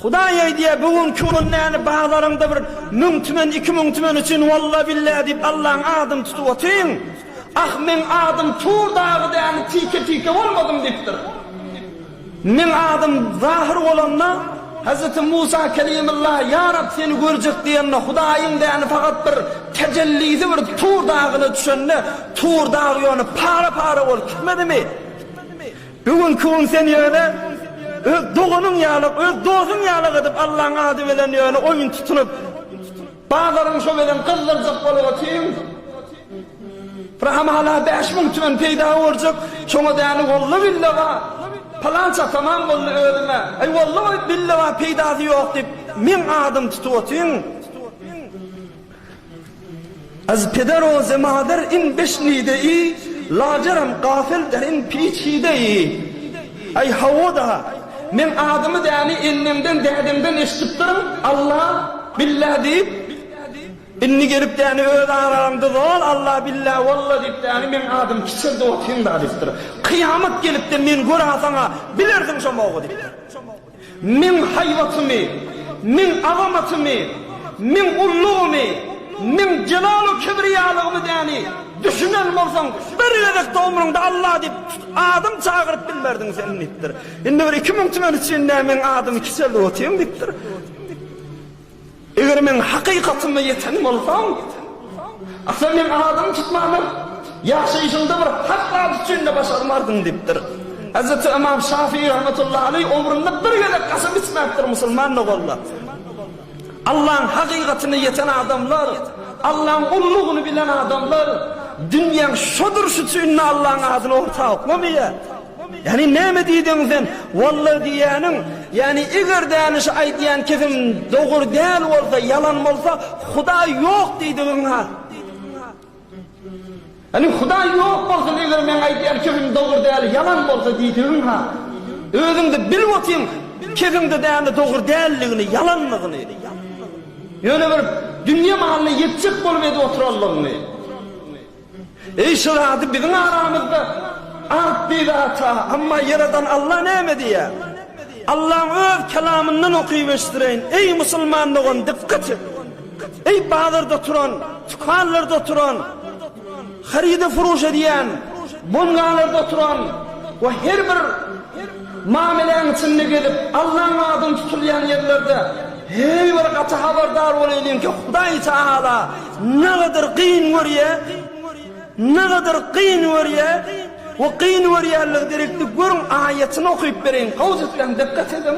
Hudaý öýdýä bu günki gün näni bazaryňda bir müň tümen iki müň tümen üçin walla billa diýip Allaň adyny tutup otyň. Ah meň adym tur dagy däni tike tike bolmadym diýipdir. Meň adym zahyr bolanda Hazreti Musa Kelimylla ýa Rab seni görjek diýende Hudaýyň däni fakat bir tejellisi bir tur dagyna düşende tur dag ýöne para para bolup gitmedimi? Bu günki gün sen ýöne öz doganyň ýaly, öz dosuň ýaly gydyp Allaň ady bilen ýöne oýun tutunyp, bazaryň şo bilen gyzdyrjak bolup otyň. Rahymala bäş müň tümen peýda görjek, şoňa däni boldy bille ba, pylança tamam boldy özüme, aý boldy goý bille ba peýdasy ýok diýip meň adymy tutup otyň. Az peder o zemader in beş nide i, Lajerem gafil der in piç hide i. Aý hawa-da, meň adymy däni enneňden, dädeňden eşidipdirin, Alla, Billa diýip, indi gelip däni öz araňda zol, Alla, Billa, Walla diýip däni meň adym kiçeldi otyryn-da diýipdir. Kyýamat gelip-de men görasaň-a bilersiň şomogy diýipdir. Meň haýbatymy, Meň azamatymy, Meň ullugymy, Meň jelalu-kibriýalygymy däni düşünen bolsaň, bir gezek-de ömrüňde Alla diýip adym çagyryp bilmerdiň sen diýipdir. Indi bir iki müň tümeni üçin nä meň adymy kiçeldip otyň diýipdir. Eger men hakykatynda ýeten bolsam, asla meň adymy tutmandyr, ýaşaýşyňda bir hak zat üçin-de başarmardyň diýipdir. Hezreti Ymam Şafii rahmetullahi aleý ömründe bir gezek kasam içmäpdir musulman bolanda. Allaň hakykatyna ýeten adamlar, Allaň ullugyny bilen adamlar dünýäň şo durşy üçin-de Allaň adyny orta oklamaýar. Ýagny näme diýdiň sen? Walla diýýäniň, ýagny eger däne şu aýdýan kizim dogur däl bolsa, ýalan bolsa, Hudaý ýok diýdigiň-ha. Ýagny Hudaý ýok bolsun eger meň aýdýan kizim dogur däl, ýalan bolsa diýdigiň-ha. Özüň-de bilip otyň, kiziň-de däne dogur däldigini, ýalanlygyny. Ýöne bir dünýe malyna ýetjek bolup edip oturanlygyňy. Eý şirady biziň aramyzda art diýdi ata, amma ýaradan Alla näme diýýär? Allaň öz kelamyndan okyp eşdireýin, eý musulman dogan dykgat et! Eý bazarda turan, tükanlarda oturan, haryda furuş edýän, bongalarda oturan we her bir Mameläň içinde gezip, Allaň adyny tutulýan ýerlerde heý bir gaty habardar bolaýlyň ki, Hudaý Tagala nagadyr gyn görýä, nagadyr gyn görýä we gyn görýänligi derekli görüň aýatyny okyp bereýin, gowjutlaň, dykgat ediň.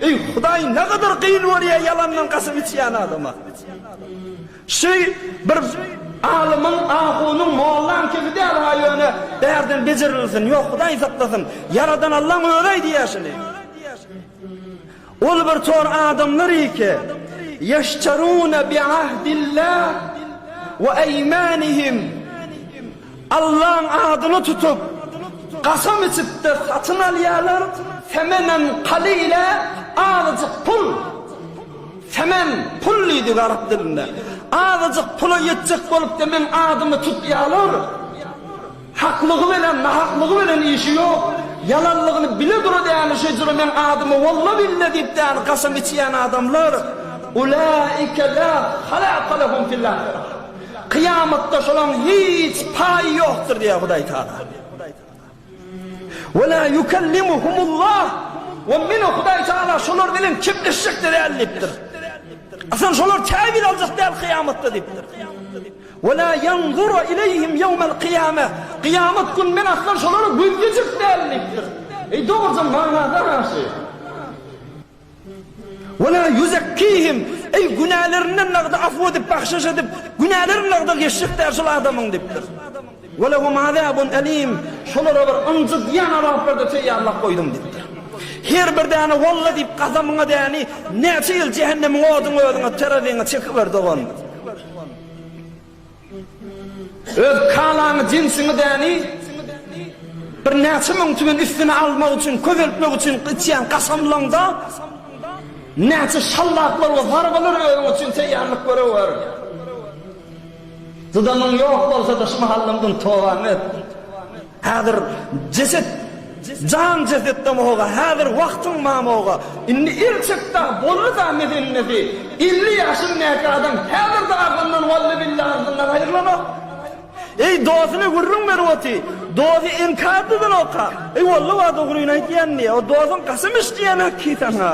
Eý Hudaý nägadar gyn görýä ýalandan kasam içýän adama. Şy bir alymyň ahunyň mollaň kebi däl ha ýöne bärden bejerilsin ýok Hudaý saklasyn ýaradan Allaň özi aýdýa şuny. Ol bir tor adamlar iki ýeşterune bi ahdillah we eýmanihim. Allaň adyny tutup, kasam içip-de satyn alýarlar, semenen kalile, azajyk pul. Semen, pul diýdik arap dilinde. Azajyk pula ýetjek bolup-da meň adymy tutýarlar. Haklygy bilen, nahaklygy bilen işi ýok. Ýalanlygyny bile-dura däni şejere meň adymy walla-billa diýip däni kasam içýän adamlar, Ulaika la halaqa lehum fil ahirah. Kyýamatda şolaň hiç paýy ýokdur diýýär Hudaý Tagala. Wela ýukellimuhumullah we men Hudaý Tagala şolar bilen kepleşjek-de däl diýipdir. Asyl şolar käbir aljak däl kyýamatda diýipdir. Wela ýanzura ileýhim ýewmel kyýame, kyýamat gün men asla şolara gözlejek däl diýipdir. Eý dogrudan maňa garaşy. Ve la yuzekkihim, eý, günälerinden nagda afw edip, bahşyş edip, günälerini nagda geçjek däl şol adamyň diýipdir. Ve lehum azabun elim, şolara bir ynjydýan azaplar-da teýýarlap goýdum diýipdir. Her bir däne walla diýip gasamyňa däni näçe ýyl jähennemiň oduny özüňe terazyňa çekiber dogan. Öz kalaňy, jinsiňi däni birnäçe müň tümen üstüne almak üçin, köpeltmek üçin içýän gaşamlaňda näçe şallaklar we zarbalar özüň üçin teýýarlyk görüwer. Dudamyň ýok bolsa-da, şu mahaldan tobaňy et. Häzir jeset jan jesetdemog-a, häzir wagtyň mamog-a. Indi el çekdi-ä, boldy-da meselnesi. Elli ýaşyndäki adam häzir-de agzyndan wallybilla agzyndan aýrylanok. Eý, dosyna gürrüň berip oty. Dosy inkär dyzanok-a. Eý, walla-wa dogryny aýdýan diýýä. O dosyň kasam içdiýänok-ki saňa.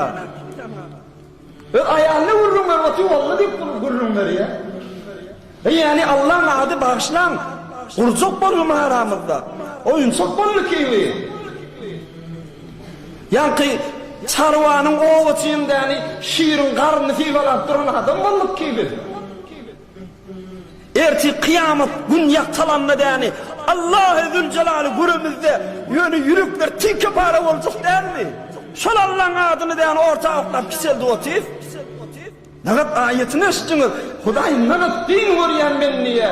Öz aýalyna gürrüň ber otyň olna diýip gürrüň berýä. Eý ýaly Allaň ady bagyşlaň gurjak boldumy aramyzda oýunçak boldy kiwi. Ýaňky çarwanyň oba çyýyndäni şiriň garnyny sybalap duran adam bolduk ki biz. Ertir kyýamat gün ýagtalanda däni Allahy Züljelalý göremizde ýöne ýürekler tilke para boljak dälmi? Şol Allaň adyny däni orta atlap kiçeldip otyr. Nagat aýatyny eşitdiňiz Hudaý nagat dini görýän bendiýe.